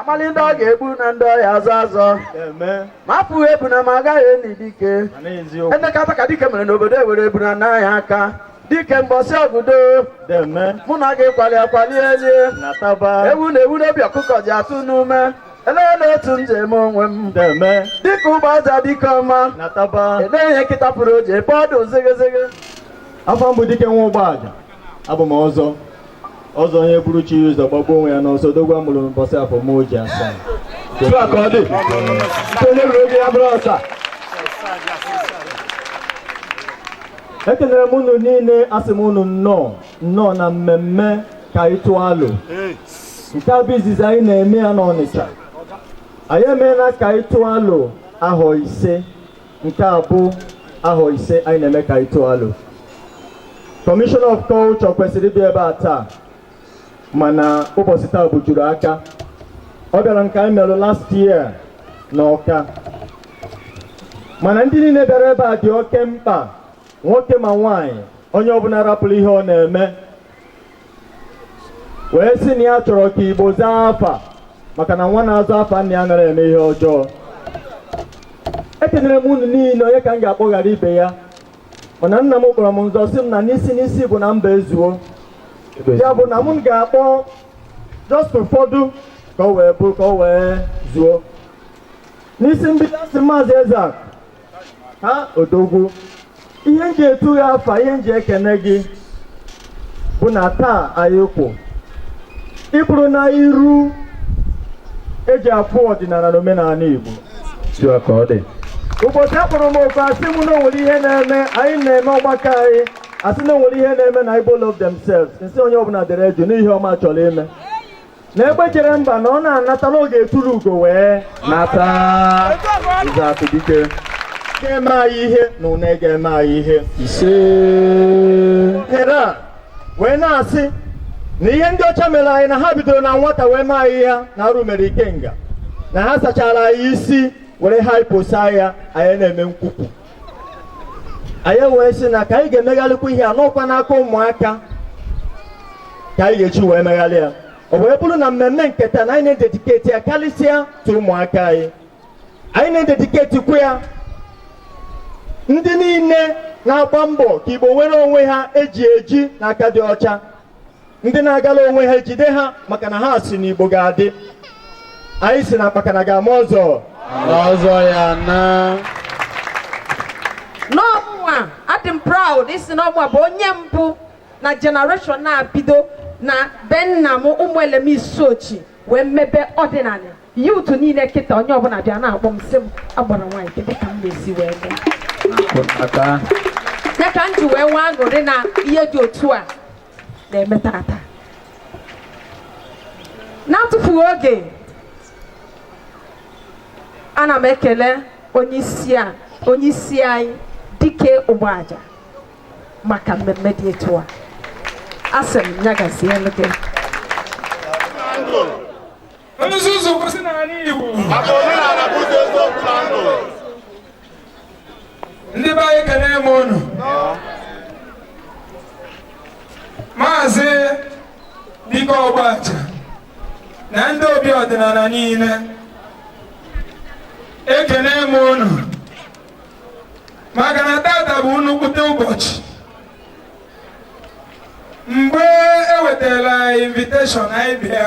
amali ndị ọ ga-egbu na ndị ọ ya-azọ azọ ma apụghị ebuna ma agaghị eni dike enekata ka dike mere n'obodo ewere ebuna naa ya aka dike mbọsị ọgụdo mụ na gị kwali akwali elie ewu na ewu n'obi ọkụkọ ji atụ n'ume Elee na otu m ji eme onwe m deme dịka Ugbaja dike ọma na taba elee ihe nkịta fụrụ o ji efe ọdụ ozegezege afa m bụ Dike nwa Ugbaja abụ m ọzọ ọzọ onye buru chi ya ụzọ gbagbuo onwe ya n'ọsọ odogwu amụrụ n'ụbọchị afọ m oji asaa otu a ka ọ dị nke onye ruru oge ya bụrụ ọsa ekelere m unu niile asị m unu nnọọ nnọọ na mmemme ka anyị tụọ alo nke a bụ izizi anyị na-eme ya n'Ọnịcha anyị emeela ka anyị tụọ alo ahọ ise nke a bụ ahọ ise anyị na-eme ka anyị tụọ alo Commissioner of Culture kwesịrị ịbịa ebe a taa mana ụbọchị taa bujuru aka ọ bịara nke anyị merụ last year na Ọka mana ndị niile bịara ebe a dị oke mkpa nwoke ma nwaanyị onye ọbụla rapụrụ ihe ọ na-eme wee sị na ya chọrọ ka Igbo zaa afa maka na nwa na-aza afa nna ya anara eme ihe ọjọọ ekenere m unu niile onye ka m ga-akpọ ghara ibe ya mana nna m kpọrọ m nso sị m na n'isi n'isi bụ na mba ezuo ya bụ na m ga-akpọ just ụfọdụ ka ọ wee bụ ka ọ wee zuo n'isi mbido asị maazị eze a ha odogwu ihe nji etu gị afa ihe nji ekene gị bụ na taa anyị kwụ ị bụrụ na iru eji afụ ọdịnala na omenala Igbo ụbọchị akpọrọ m oku asị m na onwere ihe na-eme anyị na-eme ọgbakọ anyị asị na onwere ihe na-eme na Igbo love themselves nsị onye ọbụla dere juu na ihe ọma achọọla ime na egbe jere mba na ọ na-anata na ọ ga-etulu ugo wee nata ụzọ atụ dike ga-eme anyị ihe na une ga-eme anyị ihe ise ohere a wee na-asị na ihe ndị ọcha mere anyị na ha bidoro na nwata wee mee anyị ya na arụ mere ikenga na ha sachara anyị isi were haiposa ya anyị na-eme nkwupụ anyị wee sị na ka anyị ga-emegharịkwa ihe a na ọkwa n'aka ụmụaka ka anyị ga-eji wee megharị ya o wee bụrụ na mmemme nke taa na anyị na-ededicate ya karịsịa to ụmụaka anyị anyị na-ededicatekwa ya ndị niile na-agba mbọ ka Igbo nwere onwe ha eji eji na aka dị ọcha ndị na-agala onwe ha ejide ha maka na ha sị na Igbo ga-adị anyị sị na akpakana ga-ama ọzọ ọzọ ya na na ọ mụnwa adị m proud ịsị na ọ mụnwa bụ onye mbụ na generation na-abido na be nna m Ụmụelem Isuochi wee mebe ọdịnala youth niile kịta onye ọbụla bịa na-akpọ m sị m agbara nwaanyị kedu ka m na-esi wee mee ya ka m ji wee nwee aṅụrị na ihe dị otu a na-eme tata n'atụfughị oge ana m ekele onyeisi anyị Dike Ụgbaja maka mmemme dị etu a asị m ya gazielu gị nzuzu kwụsị n'ala Igbo Maka omenala bụ ụzọ eziokwu na ndụ. ndị be anyị ekene m unu maazị Dike Ụgbaja na ndị obi ọdịnala niile ekene m unu maka na tata bụ nnukwute ụbọchị mgbe e wetara invitation anyị bịa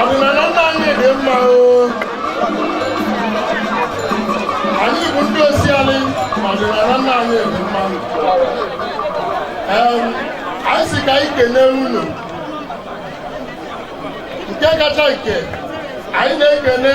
ọdịnala nna anyị dị mma o anyị bụ ndị osialị ma ọdịnala nna anyị dị mma Em, anyị sị ka anyị kelee unu nke kacha nke anyị na-ekele